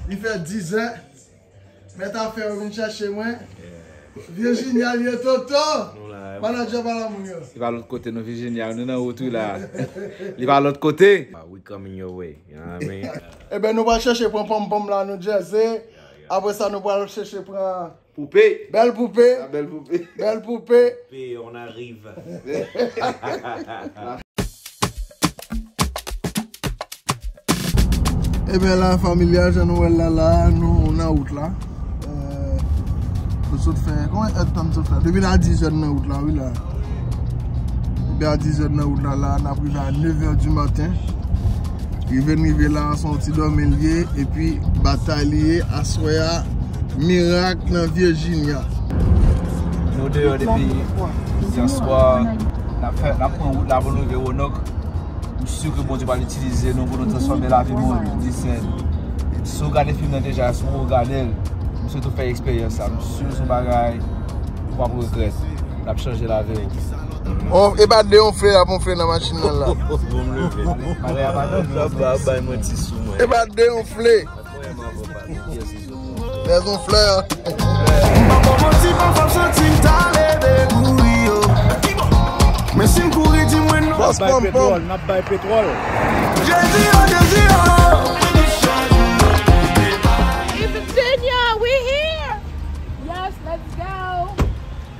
Li fè dizè, mèt afè yo vin chèche mwen. Virginia li ye Toto! Manager pa lanmoun yo. Li pa lòt kote non Virginia, nou nan wout wi la. Li pa lòt kote! We coming your way, you know what I mean? Eben nou pral chèche pran ponmpom la nou jazz e apresa nou pral chèche pran. Poupe. Bèl poupe. La bèl poupe. Bèl poupe. Poupe on arrive. Ebyen la familia jan nou wè la la nou nan wout la Nou sot fè konwen èd tan nou sot fè Depi nan 10 èd nan wout la wi la Depi nan 10 èd nan wout la la N ap rive a 9 èd du maten Rive n rive la son ti dòmi l ye epi batay li ye aswè a mirak nan Virginia. Nou deyò depi yèswa nap fè nap pran wout la pou nou rive Roanoke. M si ke Bondye pral itilize nou pou nou transfòme lavi moun di sè. Si w gade fim nan deja si w poko gade l m swete w fè eksperyans sa m sur son bagay ou pap regrèt lap chanje lavi w. E pa de yon fle ap yon fle nan machin nan la. E pa de yon fle. Dè yon fle an.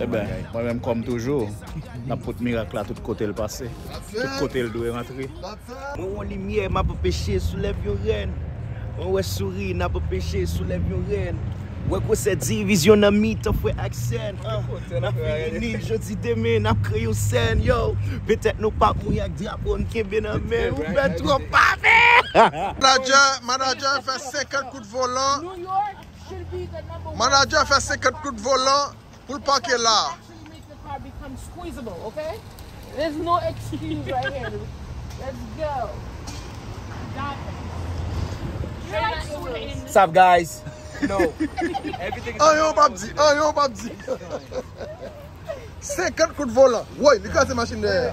Eben, mwen menm kòm toujou, m ap pot mirak la tout kote l pase, tout kote l dwe rantre. Mwen wè yon limyè, m ap anpeche, soulève yon rèn. Mwen wè souri, n ap anpeche, soulève yon rèn. Wè gwosè divizyon nan mitan frè ak sè n. N ap reyini, jodi demen, n ap kreye yon sèn. Yo! Petèt nou pa mouri ak drapo n kenbe nan men. Ou fè twòp pale! Manager fè 50 kout volan. Manager fè 50 goud volan poul pake la. Anyen ou pap di, anyen ou pap di. 50 kout volan. Woy li kraze machin dèyè a.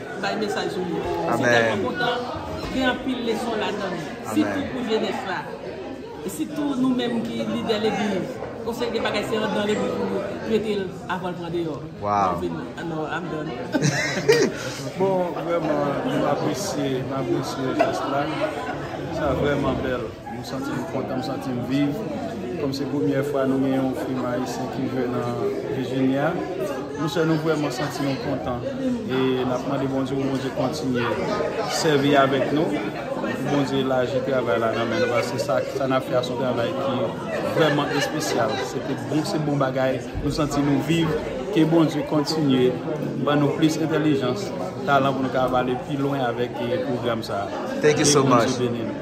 Bay mesaj ou yo. Amen. Mwen telman kontan, gen anpil leson ladan li. Sitou pou jenès la. E sitou nou menm ki lidè legliz. Yon seri de bagay se andan legliz pou nou trete l avan l pran deyò. Waww. Mwen vin anò I'm done. Bon, vrèman nou apresye, m apresye jès la. Sa vrèman bèl. M santi m kontan, m santi m viv. Kòm se premyè fwa nou gen yon fim ayisyen ki jwe nan Virginia, nou sè nou vrèman santi nou kontan e n ap mande Bondye pou Bondye kontinye sèvi avèk nou, pou Bondye laji travay la nan men nou paske sa sa n ap fè a se yon travay ki vrèman espesyal. Se te bon, se bon bagay, nou santi nou viv. Ke Bondye kontinye ban nou plis entèlijans, talan pou nou ka ap ale pi lwen avèk pwogram sa a. Ke Bondye beni nou.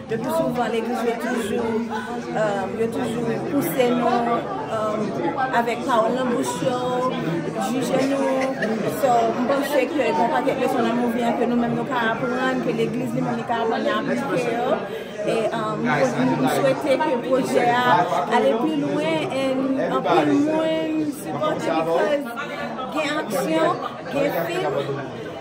Yo toujou vann legliz yo toujou yo toujou pouse nou avèk pawòl nan bouch yo jije nou so m panse ke gen yon pakèt leson nan mouvi an ke nou menm nou ka aprann ke legliz li menm li ka aprann li aplike yo e m swete ke pwojè a ale pi lwen en anpil moun sipòte li koz gen aksyon gen fim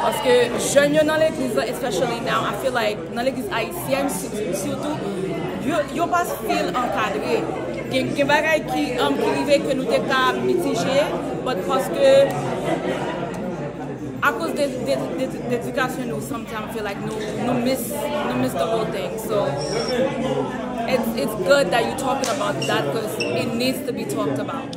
Paske jèn yo nan legliz lan especially now I feel like nan legliz ayisyèn sitou yo pa feel ankadre gen bagay ki rive ke nou te ka mitije but paske akoz de edikasyon nou sometimes feel like nou miss the whole thing so it's good that you talking about that cause it needs to be talked about.